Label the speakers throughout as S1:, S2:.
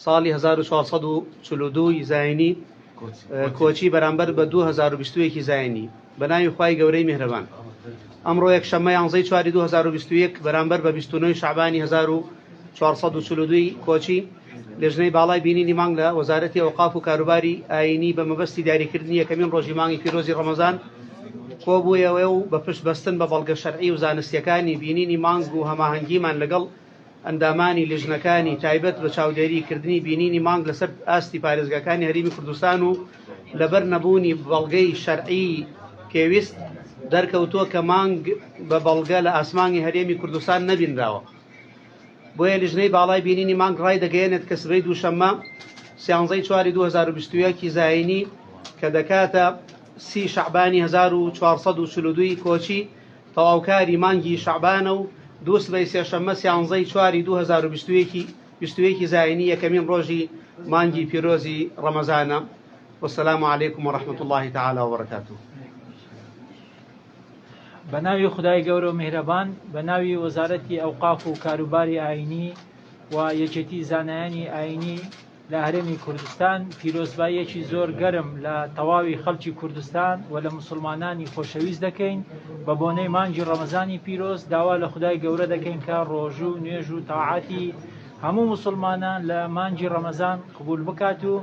S1: ساڵی هەزار و چوار سەد و چل و دوو ی زاینی کۆچی بەرامبەر بە دوو هەزار و بیست و یەک ی زاینی بە ناوی خوای گەورەی میهرەبان. ئەمڕۆ یەکشەممە یانزە ی چواری دوو هەزار و بیست و یەک بەرامبەر بە بیست و نۆ ی شەعبانی هەزار و چوار سەد و چل و دوو ی کۆچی، لێژنەی باڵای بینینی مانگ لە وەزارەتی ئەوقاف و کاروباری ئایینی بە مەبەستی دیاریکردنی یەکەمین ڕۆژی مانگی پیرۆزی ڕەمەزان کۆبوویەوە و بە پشت بەستن بە بەڵگە شەرعی و زانستییەکانی بینینی مانگ و هەماهەنگیمان لەگەڵ ئەندامانی لیژنەکانی تایبەت بە چاودێری کردنی بینینی مانگ لەسەر ئاستی پارێزگاکانی هەرێمی کوردستان و لەبەر نەبوونی بەڵگەی شەرعی پێویست دەرکەوتووە کە مانگ بە بەڵگە لە ئاسمانی هەرێمی کوردستان نەبینراوە بۆیە لیژنەی باڵای بینینی مانگ ڕای دەگەیەنێت کە سبەی دووشەممە سیانزەی چواری 2021 زایینی کە دەکاتە سی شعبانی 1442 کۆچی تەواوکاری مانگی شەعبانە و دوو سبەی سێشەممە سیانزە ی چواری دوو هەزار و بیست و یەک ی بیست و یەک ی زاینی یەکەمین ڕۆژی مانگی پیرۆزی ڕەمەزانە والسلام علیکم ورحمة اللە تعالی وبرکاته.
S2: بە ناوی خودای گەورە و میهرەبان بە ناوی وەزارەتی ئەوقاف و کاروباری ئاینی و یەکێتی زانایانی ئاینی لە هەرێمی کوردستان پیرۆزباییەکی زۆر گەرم لە تەواوی خەڵکی کوردستان و لە مسلمانانی خۆشەویست دەکەین بە بۆنەی مانگی ڕەمەزانی پیرۆز داوا لە خدای گەورە دەکەین کە ڕۆژوو و نوێژ و تاعاتی هەموو مسلمانان لە مانگی ڕەمەزان قبول بکات و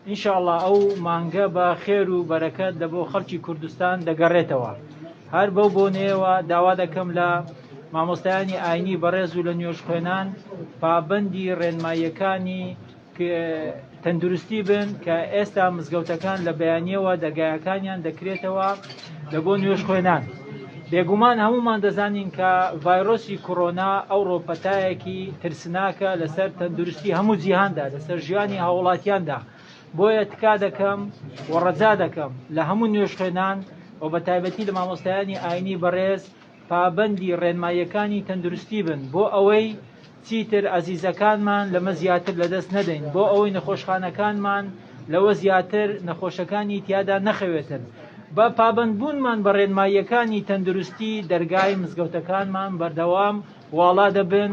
S2: ئینشاءاللە ئەو مانگە بە خێر و بەرەکەت لە بۆ خەڵکی کوردستان دەگەڕێتەوە هەر بەو بۆنەیەوە داوا دەکەم لە مامۆستایانی ئاینی بەڕێز و لە نوێژخوێنان پابەندی ڕێنماییەکانی تەندروستی بن کە ئێستا مزگەوتەکان لە بەیانیەوە دەرگایەکانیان دەکرێتەوە لە بۆ نوێژخوێنان. بێگومان هەمومان دەزانین کە ڤایرۆسی کۆرۆنا ئەوڕۆ پەتایەکی ترسناکە لەسەر تەندروستی هەموو جیهاندا لەسەر ژیانی هاوڵاتیاندا بۆیە تکا دەکەم و ڕەجا دەکەم لە هەموو نوێژخێنان و بە تایبەتی لە مامۆستایانی ئاینی بەڕێز پابەندی ڕێنماییەکانی تەندروستی بن بۆ ئەوەی چیتر ئازیزەکانمان لەمە زیاتر لەدەست نەدەین، بۆ ئەوەی نەخۆشخانەکانمان لەوە زیاتر نەخۆشەکانی تیادا نەخەوێتن. بە پابەندبوونمان بە ڕێنماییەکانی تەندروستی، دەرگای مزگەوتەکانمان بەردەوام واڵا دەبن،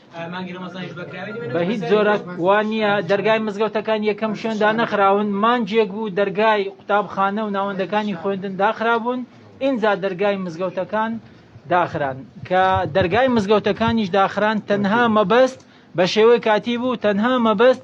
S3: بە هیچ جۆرەک
S2: وا نییە دەرگای مزگەوتەکان یەکەم شوێن دانەخراون مانجێک بوو دەرگای قوتابخانە و ناوەندەکانی خوێندن داخرابوون ئینجا دەرگای مزگەوتەکان داخران کە دەرگای مزگەوتەکانیش داخران تەنها مەبەست بە شێوەی کاتی بوو تەنها مەبەست